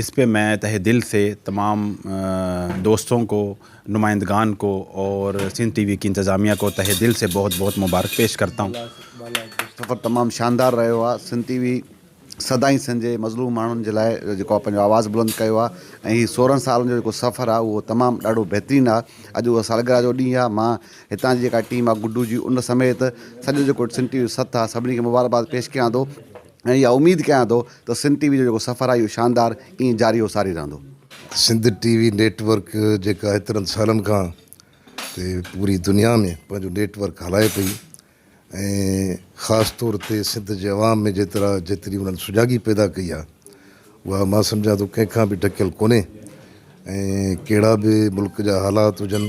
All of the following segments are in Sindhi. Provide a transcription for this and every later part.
اس پہ مين تهه دل سي تمام دوستون کو نمائندگان کو اور سندھ ٽي وي ڪي انتظاميه کو تهه دل سي بهت بهت مبارڪ پيش ڪرتا هون سفر تمام شاندار رهيو آ سنڌ ٽي وي سدائين سنڌ جي مظلوم ماڻهن جي لاء جيڪو آ پنهنجو آواز بلند ڪيو آ ۽ هي سورهن سالن جو جيڪو سفر آ اهو تمام ڏاڍو بهترين آ اڄ اهو سالگرهه جو ڏينهن آ مان هتان جي جيڪا ٽيم آ گڊو جي ان سميت سڄو جيڪو سنڌ ٽي وي جو سٿ آ سڀني کي مبارڪباد پيش ڪيان ٿو ۽ اها اميد ڪيان ٿو ته سنڌ ٽي وي جو جيڪو سفر آهي اهو شاندار ائين جاري و ساري رهندو. Sindh T V network جيڪا ايترن سالن کان تي پوري دنيا ۾ پنهنجو نيٽ ورڪ هلائي پئي ۽ خاص طور تي سنڌ جي عوام ۾ جيترا جيتري انهن سجاڳي پيدا ڪئي آهي اها مان سمجهان ٿو ڪنهن کان به ڍڪيل ڪونهي ۽ ڪهڙا به ملڪ جا حالات هجن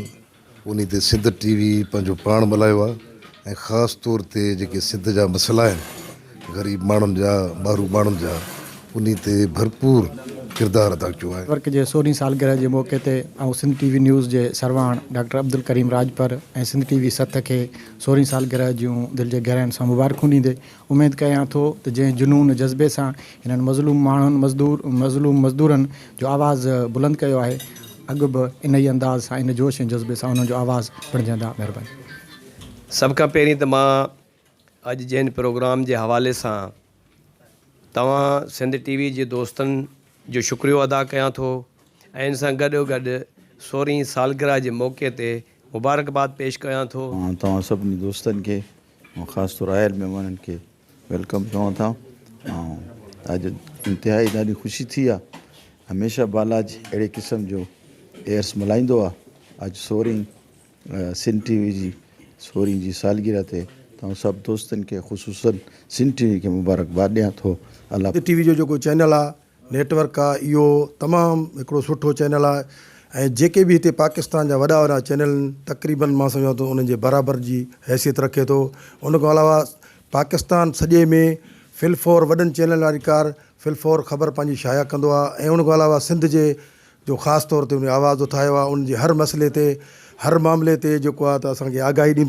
انهي تي سنڌ ٽي وي پنهنجو پاڻ ملهايو آهي ۽ خاص طور تي جيڪي سنڌ جا مسئلا آهن غريب ماڻهن جا ٻارو ماڻهن جا انهي تي ڀرپور ڪردار ادا ڪيو آهي. ورڪ جي سورهين سالگرهه جي موقعي تي آئون سنڌ ٽي وي نيوز جي سرواڻ doctor Abdulkarim Rajpar ۽ Sindh T V ست کي سورهين سالگرهه جون دل جي گهراين سان مبارڪون ڏيندي اميد ڪيان ٿو ته جنهن جنون جذبي سان هنن مظلوم ماڻهن مزدور مظلوم مزدورن جو آواز بلند ڪيو آهي اڳ به انهي انداز سان ان جوش ۽ جذبي سان انهن جو آواز بڻجندا مهرباني. سڀ کان پهرين ته مان اڄ جي هن پروگرام جي حوالي سان توهان سنڌ ٽي وي جي دوستن جو شڪريو ادا ڪيان ٿو ۽ ان سان گڏو گڏ سورهين سالگرهه جي موقعي تي مبارڪباد پيش ڪيان ٿو. مان توهان سڀني دوستن کي مان خاص طور آيل مهمانن کي ويلڪم چوان ٿا ۽ اڄ انتهائي ڏاڍي خوشي ٿي آ هميشه بالاج اهڙي قسم جو ايئرس ملهائيندو آ اڄ سورهين سنڌ ٽي وي جي سورهين جي سالگرهه تي توهان سڀ دوستن کي خصوصن سنڌ ٽي وي کي مبارڪباد ڏيان ٿو الله سنڌ ٽي وي جو جيڪو چينل آ نيٽ ورڪ آ اهو تمام هڪڙو سٺو چينل آ ۽ جيڪي به هتي پاڪستان جا وڏا وڏا چينل آهن تقريبن مان سمجهان ٿو انهن جي برابر جي حيثيت رکي ٿو ان کان علاوه پاڪستان سڄي ۾ فل فور وڏن چينل واري ڪار فل فور خبر پنهنجي شايع ڪندو آ ۽ ان کان علاوه سنڌ جي جو خاص طور تي ان آواز اٿايو آ ان جي هر مسئلي تي هر معاملي تي جيڪو آ ته اسان کي آگاهي ڏيندو